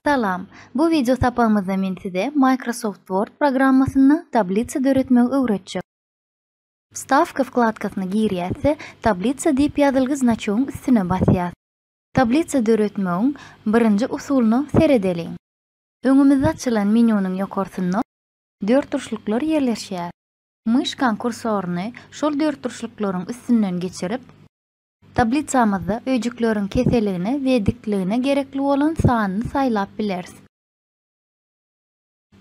Salam! Bu wideo sapagymyzda men size Microsoft Word programmasynda tablisa döretmegi öwretjek. Wstawka wkladkasyna girýäs-de, Tablitsa diýip ýazylgy znaçogyň üstüne basýas. Tablitsa döretmegiň birinji usulyna seredeliň. Öňümizde açylan menýunyň ýokarsynda dörtburçluklar ýerleşýär. Myşkaň kursoryny şol dörtburçluklaryň üstünden geçirip, tablisamyzda öýjükleriň keseligine we dikligine gerekli bolan sanyny saýlap bileris.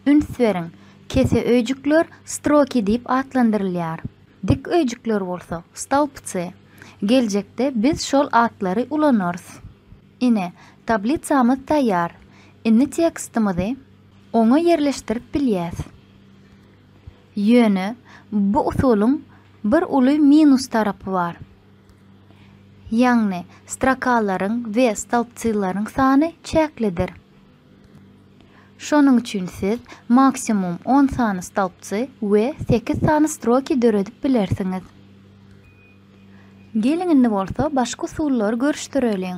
Üns beriň, kese öýjükler stroki diýip atlandyrylýar, dik öýjükler bolsa stolpcy. Geljekde biz şol atlary ulanarys. Ine, tablisamyz taýýar. Indi tekstimizi. oňa ýerleşdirip bilýäs. Ýöne bu usulyň bir uly minus tarapy bar. Ýagny strokalaryň we stolpcylaryň sany çäklidir. Şonuň üçin siz maksimum on sany stolpcy we sekiz sany stroki döredip bilersiňiz. Geliň indi bolsa başga usullary görüşdireliň.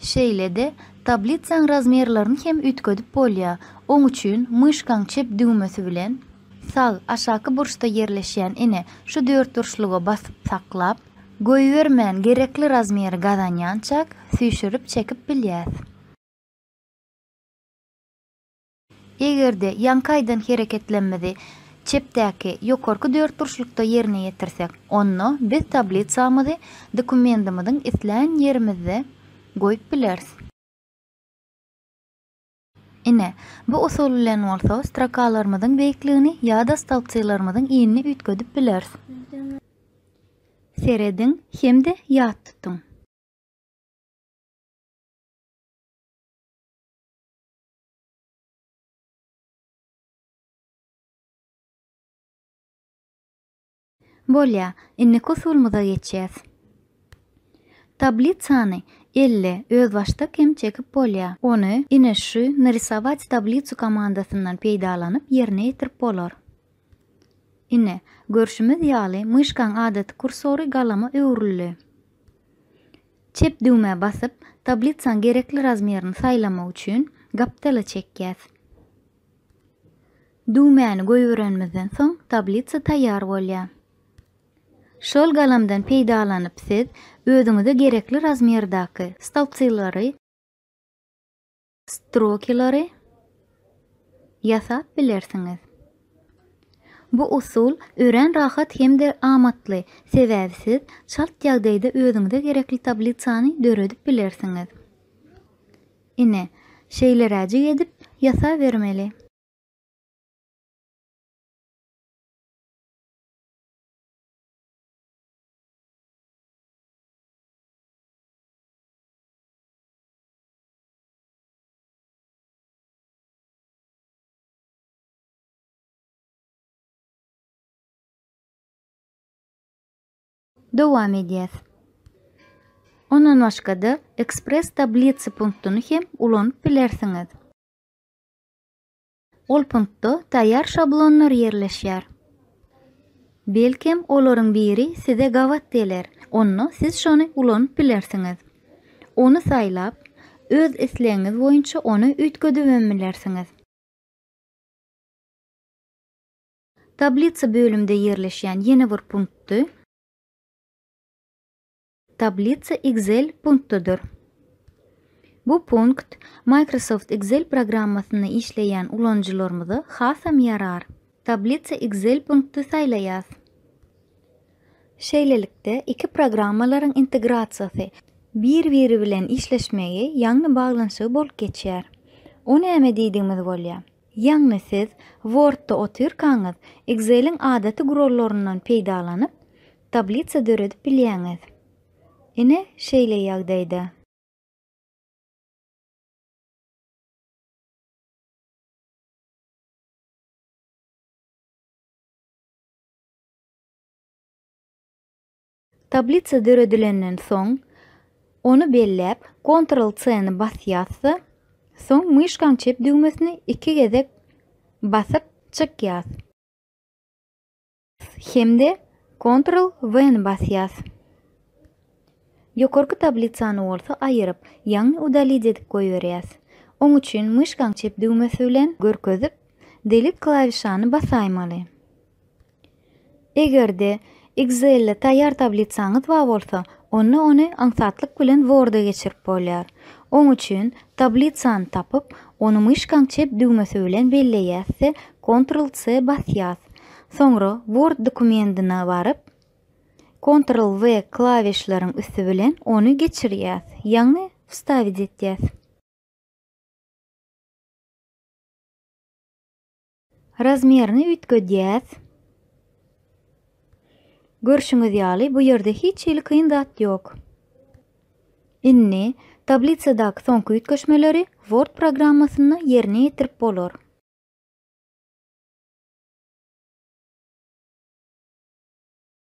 Şeýle-de, tablitsaň razmerlerini hem üýtgedip bolýar, oň üçin myşkaň çep düwmesi bilen, sag, aşaky burçda ýerleşýän ine, şu dörtburçluga basyp saklap, goýbermän gerekli razmeri gazanýançak, süýşürip çekip bilýäs. Eger-de ýaňky aýdan hereketlemmizi çepdäki ýokarky dörtburçlukda ýerine ýetirsek, onda biz tablisamyzy dokumentimiziň islän ýerimizde goýup bileris. Ine, bu usul bilen bolsa strokalarymyzyň beýikligini ýa-da stolpçylarymyzyň inini üýtgedip bileris. Serediň hem-de ýat tutuň! Bolýa, indiki usulymyza geçýäs. Tablisany elle, özbaşdak hem çekip bolýa. Ony ine şu Narysować tablisu komandasyndan peýdalanyp ýerine ýetirip bolar. Ine, görşümiz ýaly myşkaň adaty kursory galama öwrüldi. Çep düwmä basyp, tablisaň gerekli razmerini saýlamak üçin gapdala çekýäs. Düwmäni goýberenimizden soň tablisa taýýar bolýar. Şol galamdan peýdalanyp siz özüňize gerekli razmerdaky stolpcylary, Strokylary ýasap bilersiňiz. Bu usul örän rahat hem-de amatly, sebäbi siz çalt ýagdaýda özüňize gerekli tablisany döredip bilersiňiz. Ine, şeýleräjik edip ýasabermeli. Dowam edýäs. Ondan başga-da Express tablica punktyny hem ulanyp bilersiňiz. Ol punktda taýýar şablonlar ýerleşýär. Belkem, olaryň biri size gabat geler, onda siz şony ulanyp bilersiňiz. Ony saýlap, öz islegiňiz boýunça ony üýtgedibem bilersiňiz. Tablitsa bölümde ýerleşýän ýene bir punktdy. Tablitsa Excel punktdadyr. Bu punkt Microsoft Excel programmasynda işleýän ulanyjylarymyza hasam ýarar. Tablitsa Excel punkty saýlaýas. Şeýlelikde, iki programmalaryň integrasiýasy, bir-biri bilen işleşmegi, ýagny baglanyşygy bolup geçýär. O näme diýdigimiz bolýar? Ýagny siz Word-da otyrkaňyz Excel-iň adaty gurallaryndan peýdalanyp, tablisa döredip bilýäňiz. Ine, şeýle ýagdaýda. Tablisa döredilenden soň, ony belläp, Ctrl-C-ni basýas-da, soň myşkaň çep düwmesini iki gezek basyp çykýas. Hem-de Ctrl-V-ni basýas. Ýokarky tablisany bolsa aýyryp, ýagny Udalить edip goýberýäs. Oň üçin myşkaň çep düwmesi bilen görkezip, Delete klawişany basaýmaly. Eger-de Excel-de taýýar tablisaňyz bar bolsa, onda ony aňsatlyk bilen Word-a geçirip bolýar. Oň üçin tablisany tapyp, ony myşkaň çep düwmesi bilen belleýäs-de, Ctrl-C basýas. Soňra Word dokumentine baryp, Ctrl-V klawişleriň üsti bilen ony geçirýäs, ýagny wstawit etýäs. Razmerini üýtgedýäs. Görşüňiz ýaly, bu ýerde hiç hili kyn zat ýok. Indi, tablisadaky soňky üýtgeşmeleri Word programmasynda ýerine ýetirip bolar.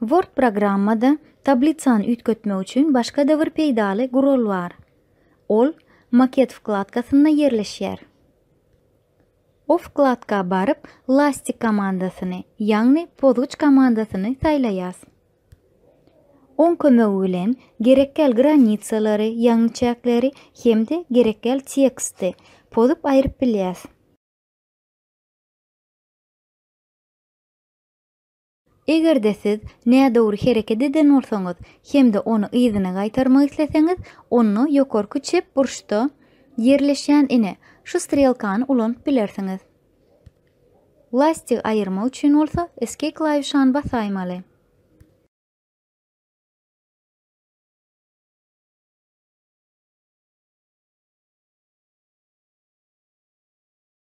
Word programmada tablisany üýtgetmek üçin başga-da bir peýdaly gural bar. Ol Maket wkladkasynda ýerleşýär. O wkladka baryp Lastik komandasyny, ýagny pozgyç komandasyny saýlaýas. Oň kömegi bilen gerekgäl granitsalary, ýagny çäkleri hem-de gerekgäl teksti pozup aýryp bilýäs. Eger-de siz nädogry hereket eden bolsaňyz hem-de ony yzyna gaýtarmak isleseňiz, onda ýokarky çep burçda ýerleşýän ine, şu strelkany ulanyp bilersiňiz. Lastik aýyrmak üçin bolsa Escape klawişany basaýmaly.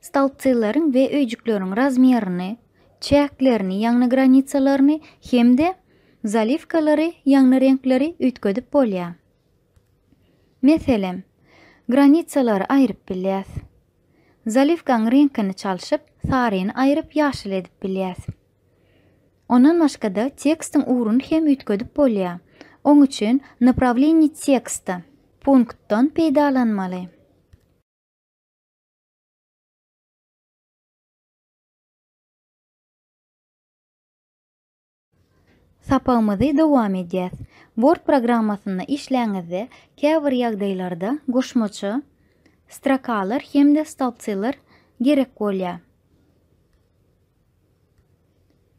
Stolpcylaryň we öýjükleriň razmýerini, çäklerini, ýagny granisalaryny, hem-de zaliwkalary, ýagny reňkleri üýtgedip bolýar. Meselem, granisalary aýryp bilýäs. Zaliwkaň reňkini çalşyp, saryny aýryp ýaşyl edip bilýäs. Ondan başga-da tekstiň ugruny hem üýtgedip bolýar. Oň üçin Naprawlenie teksta punktdan peýdalanmaly. Sapagymyzy dowam edýäs. Word programmasynda işläňizde käbir ýagdaýlarda goşmaça strokalar hem-de stolpcylar gerek bolýar.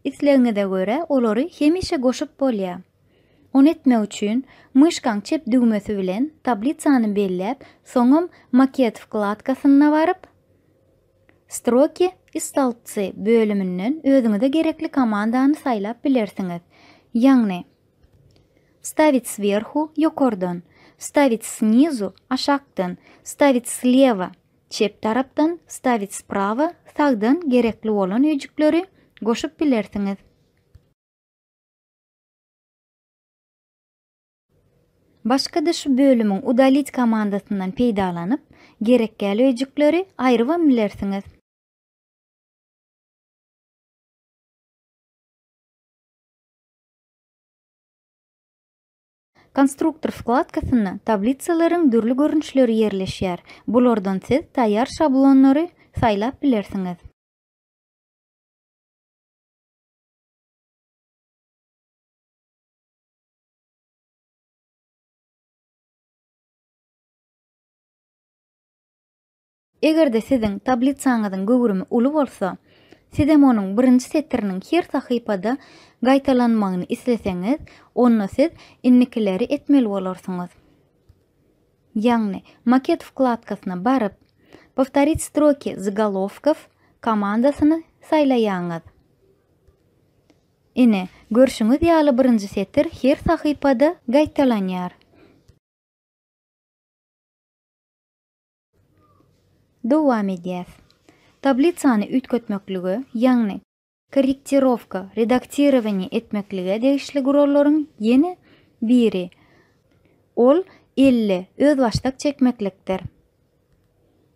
Islegiňize görä olary hemişe goşup bolýar. Ony etmek üçin myşkaň çep düwmesi bilen tablisany belläp, soňam Maket wkladkasyna baryp, Stroki i stolbci bölüminden özüňize gerekli komandany saýlap bilersiňiz. Ýagny, Wstavit swerhu, ýokardan, Wstavit snizu, aşakdan, Wstavit sleva, Çep tarapdan Stavit sprawa sagdan gerekli bolan öýjükleri goşup bilersiňiz. Başga-da şu bölümiň Udalit komandasyndan peýdalanyp, gerekgäli öýjükleri aýrybam bilersiňiz. Konstruktor wkladkasynda tablitsalaryň dürli görnüşleri ýerleşýär, bulardan siz taýýar şablonlary saýlap bilersiňiz. Eger-de siziň tablisaňyzyň göwrümi uly bolsa, siz hem onuň birinji setiriniň her sahypada gaýtalanmagyny isleseňiz, onda siz indikileri etmeli bolarsyňyz. Ýagny, Maket wkladkasyna baryp, Powtorit stroki zagolovkov komandasyny saýlaýaňyz. Ine, görşüňiz ýaly birinji setir her sahypada gaýtalanýar. Dowam edýäs. Tablisany üýtgetmeklige, ýagny korrektirowka, redaktirowaniýe, etmeklige degişli gurallaryň ýene biri, ol elli, özbaşdak çekmeklikdir.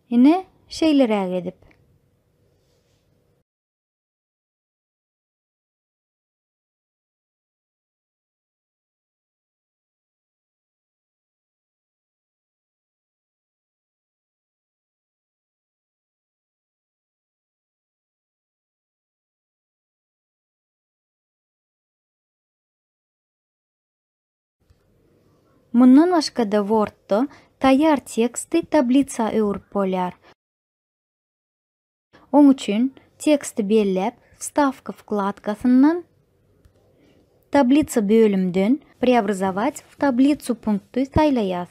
Ine, şeýleräk edip. Mundan başga-da Word-da taýýar teksti tablisa öwrüp bolýar. Oň üçin teksti belläp, Wstawka wkladkasyndan, Tablitsa bölümden Preobrazować w tablitsu punkty saýlaýas.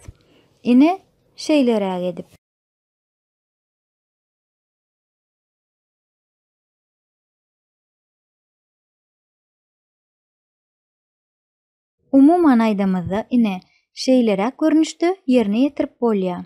Ine, şeýleräk edip. Umuman aýdamyzda, ine, şeýleräk görnüşde ýerine ýetirip bolýar.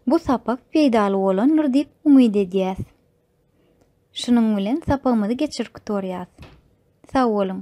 Bu sapak peýdaly bolandyr diýip umyt edýäs. Şunuň bilen sapagymyzy geçirip gutarýas. Sag boluň!